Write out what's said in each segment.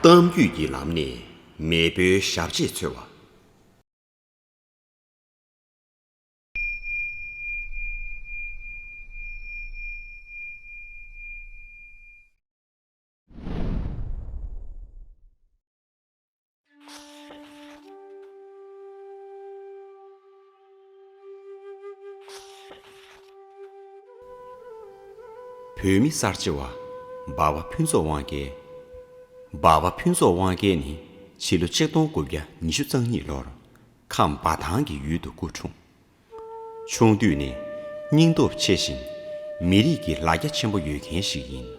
གཏམ་རྒྱུད་ཀྱི་ལམ་ནས་མེས་པོའི་ཞབས་རྗེས་འཚོལ་བ། བོད་མི་གསར་བརྗེ་བ་འབའ་བ་ཕུན་ཚོགས་དབང་རྒྱལ། འབའ་བ་ཕུན་ཚོགས་དབང་རྒྱལ་ནི་ཕྱི་ལོ་ཆིག་སྟོང་དགུ་བརྒྱ་ཉི་ཤུ་རྩ་གཉིས་ལོར་ཁམས་འབའ་ཐང་གི་ཡུལ་དུ་སྐུ་འཁྲུངས། ཆུང་དུས་ནས་སྙིང་སྟོབས་ཆེ་ཞིང་མི་རིགས་ཀྱི་ལ་རྒྱ་ཆེན་པོ་ཡོད་མཁན་ཞིག་ཡིན།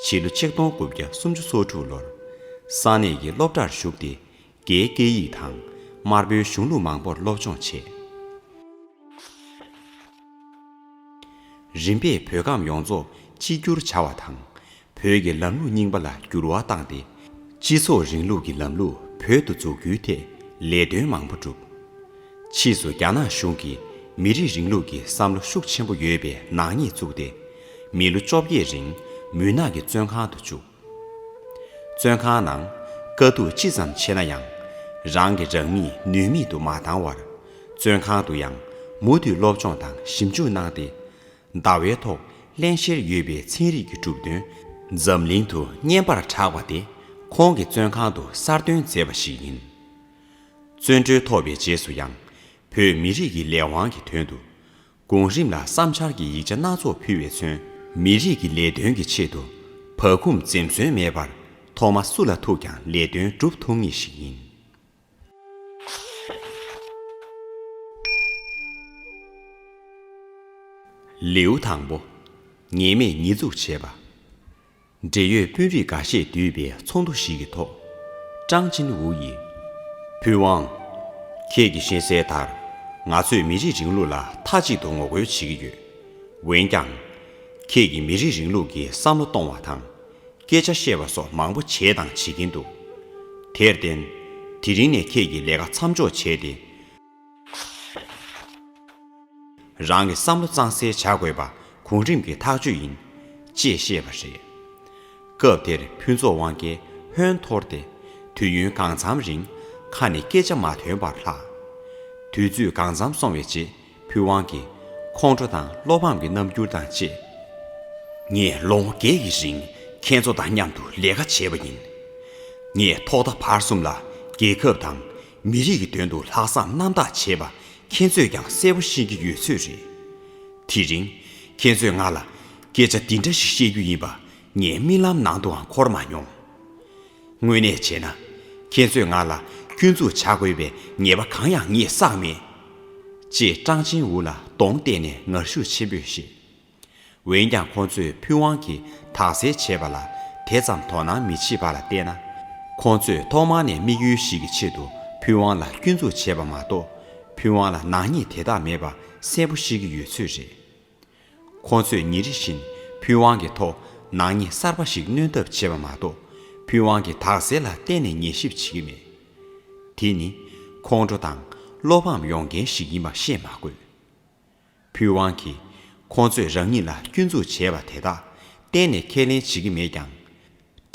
ཕྱི་ལོ་ཆིག་སྟོང་དགུ་བརྒྱ་སུམ་ཅུ་སོ་དྲུག་ལོར་ས་གནས་ཀྱི་སློབ་གྲྭར་ཞུགས་ཏེ་རྒྱའི་སྐད་ཡིག་དང་དམར་པོའི་གཞུང་ལུགས་མང་པོར་སློབ་སྦྱོང་བྱས། རིམ་པས་བོད་ཁམས་ཡོངས་རྫོགས་གཅིག་གྱུར་བྱ་བ་དང་བོད་ཀྱི་ལམ་ལུགས་རྙིང་པ་ལ་འགྱུར་བ་བཏང་སྟེ། སྤྱི་ཚོགས་རིང་ལུགས་ཀྱི་ལམ་ལུགས་བོད་དུ་འཛུགས་རྒྱུའི་ཐད་ལས་དོན་མང་པོ་བསྒྲུབས། ཕྱིས་སུ་རྒྱ་ནག་གཞུང་གིས་མི་རིགས་རིང་ལུགས་ཀྱི་བསམ་བློ་ཤུགས་ཆེན་པོ་ཡོད་པའི་ནག་ཉེས་བཙུགས་ཏེ། མི་ལོ་བཅོ་བརྒྱད་རིང་མུན་ནག་གི་བཙོན་ཁང་དུ་བཅུག། བཙོན་ཁང་ནང་དཀའ་སྡུག་ཅི་ཙམ་ཆེ་ན་ཡང། རང་གི་རང་མིས་ནུས་མེད་དུ་མ་བཏང་བར། བཙོན་ཁང་དུ་ཡང་མུ་མཐུད་སློབ་སྦྱོང་དང་ཞིབ་འཇུག་གནང་སྟེ། ཟླ་བའི་ཐོག་བརླན་གཤེར་ཡོད་པའི་ཚན་རིག་གི་གྲུབ་དོན་འཛམ་གླིང་དུ་སྙན་པར་གྲགས་པ་དེ་ཁོང་གི་བཙོན་ཁང་དུ་གསར་འདོན་མཛད་པ་ཞིག་ཡིན། བཙོན་གྲོལ་ཐོབ་པའི་རྗེས་སུ་ཡང་བོད་མི་རིགས་ཀྱི་ལས་དབང་གི་དོན་དུ་གོང་རིམ་ལ་བསམ་འཆར་གྱི་ཡིག་ཆ་སྣ་ཚོགས་ཕུལ་བས་མཚོན། མི་རིགས་ཀྱི་ལས་དོན་གྱི་ཆེད་དུ་བག་འཁུམས་འཛེམས་ཟོན་མེད་པར་ཐོག་མ་སུ་ལ་ཐུག་ཀྱང་ལས་དོན་སྒྲུབ་ཐུབ་ངེས་ཤིག་ཡིན། ལེའུ་དང་པོ། ངེས་མེད་ཉེས་འཛུགས་བྱེད་པ། འབྲེལ་ཡོད་དཔོན་རིགས་འགའ་ཤས་འདུས་པའི་ཚོགས་འདུ་ཞིག་གི་ཐོག་ཀྲང་ཅིན་ཝུའུ་ཡིས། ཕུན་དབང། ཁྱེད་ཀྱིས་ཤེས་གསལ་ལྟར། ང་ཚོས་མི་རིགས་རིང་ལུགས་ལ་མཐའ་གཅིག་ཏུ་ངོ་རྒོལ་བྱེད་ཀྱི་ཡོད། འོན་ཀྱང། ཁྱེད་ཀྱིས་མི་རིགས་རིང་ལུགས་ཀྱི་བསམ་བློ་གཏོང་བ་དང། སྐད་ཆ་བཤད་པ་སོགས་མང་པོ་བྱས་དང་བྱེད་ཀྱིན་འདུག་དེར་བརྟེན། དེ་རིང་ནས་ཁྱེད་ཀྱིས་ལས་ཀ་མཚམས་འཇོག་བྱས་ཏེ། རང་གི་བསམ་བློ་གཙང་སེལ་བྱ་དགོས་པ་གོང་རིམ་གྱི་ཐག་གཅོད་ཡིན། ཅེས་བཤད་པ་རེད། སྐབས་དེར་ཕུན་ཚོགས་དབང་སྐལ་ཧོན་འཐོར་ཏེ། དུས་ཡུན་གང་འཚམ་རིང་ཁ་ནས་སྐད་ཆ་མ་ཐོན་པར་ལྷག། དུས་ཚོད་གང་འཚམ་སོང་བའི་རྗེས། ཕུན་དབང་གིས་ཁོང་ཁྲོ་དང་བློ་ཕམ་གྱི་རྣམ་འགྱུར་དང་བཅས། ངས་ལོ་ངོ་བརྒྱད་ཀྱི་རིང་ཁྱེད་ཚོ་དང་མཉམ་དུ་ལས་ཀ་བྱས་པ་ཡིན། ངས་ཐོག་མཐའ་བར་གསུམ་ལ་རྒྱལ་ཁབ་དང་མི་རིགས་ཀྱི་དོན་དུ་ལྷག་བསམ་རྣམ་དག་བྱས་པ་ཁྱེད་ཚོས་ཀྱང་གསལ་པོ་ཤེས་ཀྱི་ཡོད་ཚོད་རེད། དེ་རིང་ཁྱེད་ཚོས་ང་ལ་སྐད་ཆ་འདི་འདྲ་ཞིག་བཤད་རྒྱུ་ཡིན་པ་ངའི་རྨི་ལམ་ནང་དུའང་འཁོར་མ་མྱོང། དངོས་གནས་བྱས་ན། ཁྱེད་ཚོས་ང་ལ་སྐྱོན་འཛུགས་བྱ་དགོས་པའི་ངེས་པ་གང་ཡང་ངས་བསགས་མེད། ཅེས་ཀྲང་ཅིན་ཝུ་ལ་གདོང་གཏད་ནས་ངར་ཤུགས་ཆེན་པོས་བཤད། འོན་ཀྱང་ཁོ་ཚོས་ཕུན་དབང་གིས་དག་སེལ་བྱས་པ་ལ་དེ་ཙམ་དོ་སྣང་མི་བྱེད་པ་ལ་བལྟས་ན། ཁོ་ཚོས་ཐོག་མ་ནས་དམིགས་ཡུལ་ཞིག་གི་ཆེད་དུ་ཕུན་དབང་ལ་སྐྱོན་འཛུགས་བྱས་པ་མ་གཏོགས་ཕུན་དབང་ལ་ནག་ཉེས་དེ་དག་མེད་པ་གསལ་པོ་ཤེས་ཀྱི་ཡོད་ཚོད་རེད། ཁོང་ཚོས་ཉིན་རེ་བཞིན་ཕུན་དབང་གི་ཐོག་ནག་ཉེས་གསར་པ་ཞིག་སྣོན་ཐབས་བྱེད་པ་མ་གཏོགས་ཕུན་དབང་གིས་དག་སེལ་ལ་གཏན་ནས་ཉན་ཞིབ་བྱེད་ཀྱི་མེད། དེ་ནི་ཁོང་ཁྲོ་དང་བློ་ཕམ་ཡོང་མཁན་ཞིག་ཡིན་པ་བཤད་མ་དགོས། ཕུན་དབང་གིས་ཁོང་ཚོས་རང་ཉིད་ལ་སྐྱོན་འཛུགས་བྱས་པ་དེ་དག་གཏན་ནས་ཁས་ལེན་བྱེད་ཀྱི་མེད་ཀྱང།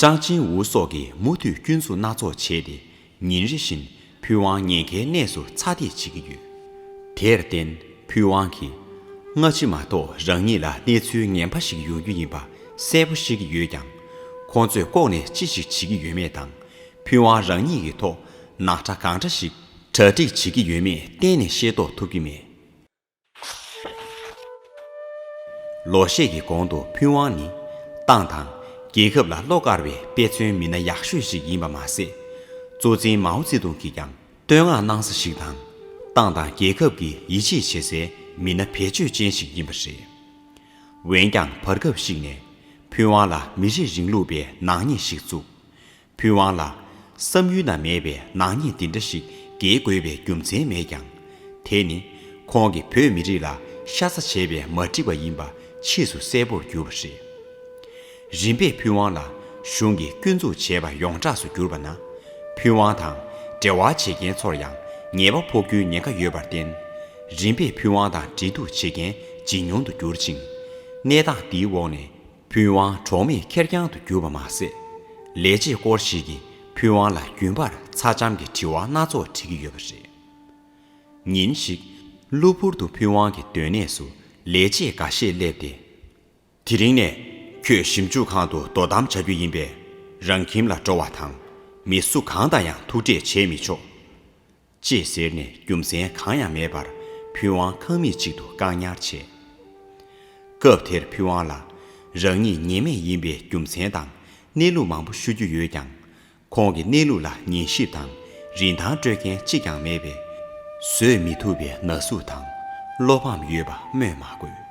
ཀྲང་ཅིན་ཝུ་སོགས་ཀྱིས་མུ་མཐུད་སྐྱོན་འཛུགས་སྣ་ཚོགས་བྱས་ཏེ་ཉིན་རེ་བཞིན་ཕུན་དབང་ཉེན་ཁའི་གནས་སུ་ཚ་འདེད་བྱེད་ཀྱི་ཡོད། དེར་བརྟེན་ཕུན་དབང་གིས། སྔ་ཕྱི་མ་གཏོགས་རང་ཉིད་ལ་གནས་ཚུལ་ངན་པ་ཞིག་ཡོང་རྒྱུ་ཡིན་པ་གསལ་པོ་ཤེས་ཀྱི་ཡོད་ཀྱང། ཁོང་ཚོས་ལྐོག་ནས་ཅི་ཞིག་བྱེད་ཀྱི་ཡོད་མེད་དང་ཕུན་དབང་རང་ཉིད་ཀྱི་ཐོག་ནག་ཁྲ་གང་འདྲ་ཞིག་གྲ་སྒྲིག་བྱེད་ཀྱི་ཡོད་མེད་གཏན་ནས་ཤེས་རྟོགས་ཐུབ་ཀྱི་མེད། ལོ་ཤས་ཀྱི་གོང་དུ་ཕུན་དབང་ནི་ཏང་དང་རྒྱལ་ཁབ་ལ་བློ་དཀར་བའི་དཔེ་མཚོན་མི་སྣ་ཡག་ཤོས་ཤིག་ཡིན་པ་མ་ཟད། གཙོ་འཛིན་མའོ་ཙེ་ཏུང་གིས་ཀྱང་བསྟོད་བསྔགས་གནང་ས་ཞིག་དང། ཏང་དང་རྒྱལ་ཁབ་ཀྱི་ཡིད་ཆེས་བྱེད་སའི་མི་སྣ་བེད་སྤྱོད་ཅན་ཞིག་ཡིན་པ་རེད། འོན་ཀྱང་བར་སྐབས་ཤིག་ནས་ཕུན་དབང་ལ་མི་རིགས་རིང་ལུགས་པའི་ནག་ཉེས་ཤིག་བཙུགས། ཕུན་དབང་ལགས། བསམ་ཡུལ་ན་མེད་པའི་ནག་ཉེས་འདི་འདྲ་ཞིག་འགེལ་དགོས་པའི་རྒྱུ་མཚན་མེད་ཀྱང། དེ་ནི། ཁོང་གིས་བོད་མི་རིགས་ལ་ཤ་ཚ་བྱས་པའི་མ་འགྲིག་པ་ཡིན་པ་ཕྱིས་སུ་གསལ་པོར་གྱུར་པ་རེད། རིམ་པས་ཕུན་དབང་ལ་གཞུང་གིས་སྐྱོན་འཛུགས་བྱས་པ་ཡོངས་གྲགས་སུ་གྱུར་པ་ན། ཕུན་དབང་དང་འབྲེལ་བ་བྱེད་མཁན་ཚོར་ཡང་ཉེས་པ་ཕོག་རྒྱུའི་ཉེན་ཁ་ཡོད་པར་བརྟེན། རིམ་པས་ཕུན་དབང་དང་འབྲེལ་གཏུག་བྱེད་མཁན་ཇེ་ཉུང་དུ་གྱུར་ཅིང། གནས་སྟངས་འདིའི་འོག་ནས། ཕུན་དབང་གྲོགས་མེད་ཁེར་རྐྱང་དུ་གྱུར་པ་མ་ཟད། ལས་བྱེད་སྐོར་ཞིག་གིས་ཕུན་དབང་ལ་རྒྱུན་པར་ཚ་འཇམ་གྱི་དྲི་བ་སྣ་ཚོགས་དྲིས་ཀྱི་ཡོད་པ་རེད། ཉིན་ཞིག། གློ་བུར་དུ་ཕུན་དབང་གི་སྡོད་གནས་སུ་ལས་བྱེད་འགའ་ཤས་སླེབས་ཏེ། དེ་རིང་ནས་ཁྱོད་ཞིབ་འཇུག་ཁང་དུ་དོ་དམ་བྱ་རྒྱུ་ཡིན་པས། རང་ཁྱིམ་ལ་འགྲོ་བ་དང། མི་སུ་གང་དང་ཡང་ཐུག་འཕྲད་བྱེད་མི་ཆོག། ཅེས་ཟེར་ནས་རྒྱུ་མཚན་གང་ཡང་མེད་པར་ཕུན་དབང་ཁང་མིག་ཅིག་ཏུ་བཀག་ཉར་བྱས། སྐབས་དེར་ཕུན་དབང་ལ་རང་ཉིད་ཉེས་མེད་ཡིན་པའི་རྒྱུ་མཚན་དང་གནས་ལུགས་མང་པོ་ཤོད་རྒྱུ་ཡོད་ཀྱང། ཁོང་གི་གནས་ལུགས་ལ་ཉན་ཞིབ་དང་རིན་ཐང་སྤྲོད་མཁན་གཅིག་ཀྱང་མེད་པས། བཟོད་མི་ཐུབ་པའི་ན་ཟུག་དང་བློ་ཕམ་ཡོད་པ་སྨོས་མ་དགོས།